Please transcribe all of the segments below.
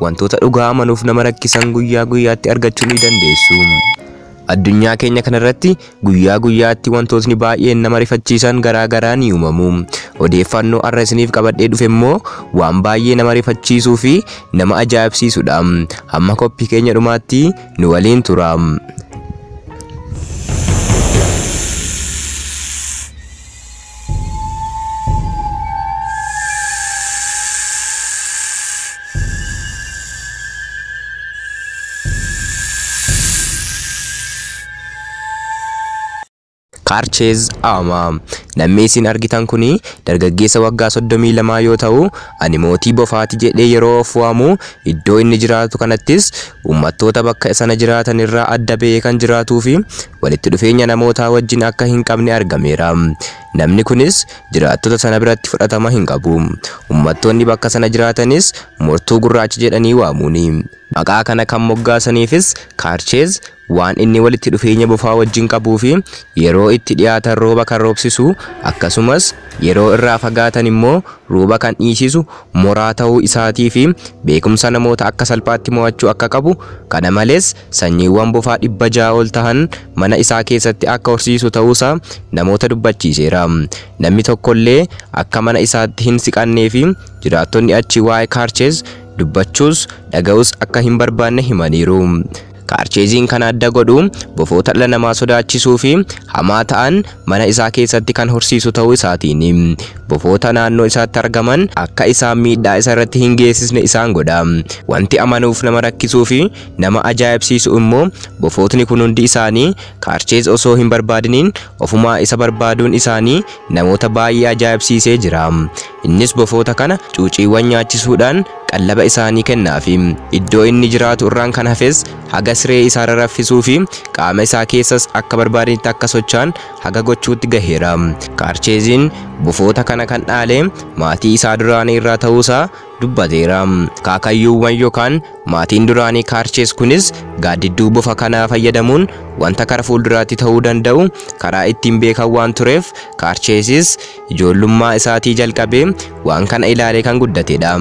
Wantoota dhugaa amanuuf nama rakkisan guyyaa guyyaatti argachuu ni dandeessu. Addunyaa keenya kanarratti guyyaa guyyaatti wantootni baay'een nama rifachiisan garaa garaa ni uumamu. Odeeffannoo har'a isiniif qabadhee dhufe immoo waan baay'ee nama rifachiisuu fi nama ajaa'ibsiisudha. Hamma qophii keenya dhumaatti nu waliin tura. Kaarcheez Aamaa. Namni isin argitan kun dargaggeessa waggaa 32 yoo ta'u, ani mootii bofaati jedhee yeroo of waamu iddoo inni jiraatu kanattis uummattoota bakka sana jiraatan irraa adda ba'ee kan jiraatuu fi walitti dhufeenya namootaa wajjin akka hin qabne argameera. Namni kunis jiraattota sana biratti fudhatama hin qabu. Ummattoonni bakka sana jiraatanis mortuu gurraacha jedhanii waamuuni. Maqaa kana kan moggaasaniifis Kaarcheez waan inni walitti dhufeenya bofaa wajjin qabuufi yeroo itti dhiyaatan rooba kan roobsisu akkasumas yeroo irraa fagaatan immoo rooba kan dhiisisu moraa ta'uu isaatiifi beekumsa namoota akka salphaatti mo'achuu akka qabu kana malees sanyiiwwan bofaa 600 ol tahan mana isaa keessatti akka horsiisu ta'uusaa namoota dubbachiiseera. Namni tokkollee akka mana isaatti hin siqanneefi jiraattonni achii waa'ee Kaarcheez dubbachuus dhaga'uus akka hin barbaanne himaniiru. Kaarcheeziin kan adda godhu bofoota dhala namaa sodaachisuufi hamaa ta'an mana isaa keessatti kan horsiisu ta'uu isaatiini. Bofoota naannoo isaatti argaman akka isaan miidhaa isarratti hin geessisne isaan godha. Wanti amanuuf nama rakkisuufi Nama ajaa'ibsiisu immoo bofootni kun hundi isaanii Kaarcheez osoo hin barbaadiniin ofumaa isa barbaaduun isaanii namoota baay'ee ajaa'ibsiisee jira. Innis bofoota kana cuuciiwwan nyaachisuudhaan qallaba isaanii kennaafi. Iddoo inni jiraatu irraan kan hafes haga siree isaarra raffisuufi qaama isaa keessas akka barbaadanitti akka socho'an haga gochuutti gaheera. Kaarcheeziin bofoota kana kan dhaale maatii isaa duraanii irraa ta'uusaa dubbateera. Kaakayyuuwwan yokaan maatiin duraanii Kaarchees kunis gaaddidduu bofa kanaa fayyadamuun wanta kara fuulduraatti ta'uu danda'u karaa ittiin beekan waan tureef Kaarcheesis ijoollummaa isaatii jalqabee waan kana ilaalee kan guddatedha.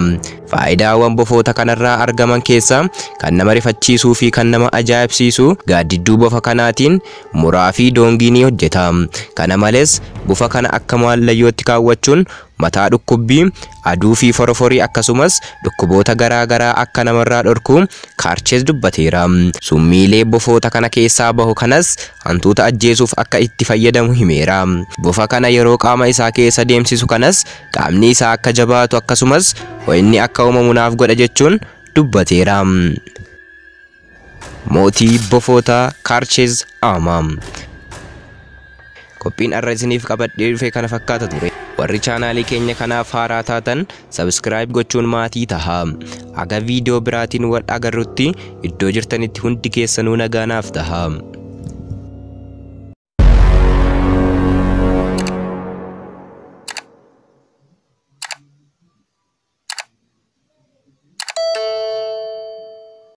Faayidaawwan bofoota kanarraa argaman keessaa kan nama rifachiisuu fi kan nama ajaa'ibsiisu gaaddidduu bofa kanaatiin muraa fi doongii ni hojjeta. Kana malees bofa kana akka maallayyootti kaawwachuun mataa dhukkubbii, aduu fi foroforii akkasumas dhukkuboota garaa garaa akka namarraa dhorku Kaarcheez dubbateera. Summiilee bofoota kana keessaa bahu kanas hantuuta ajjeesuuf akka itti fayyadamu himeera. Bofa kana yeroo qaama isaa keessa deemsisu kanas qaamni isaa akka jabaatu akkasumas ho'inni akka uumamu naaf godha jechuun dubbateera. Mootii bofootaa Kaarcheez Aama. Qophiin har'a isiniif qabadhee dhufe kana fakkaata ture. Warri chaanaalii keenya kanaaf haaraa taatan subscribe gochuun maatii tahaa. Haga viidiyoo biraatiin wal agarrutti iddoo jirtanitti hundi keessanuu nagaa naaf tahaa.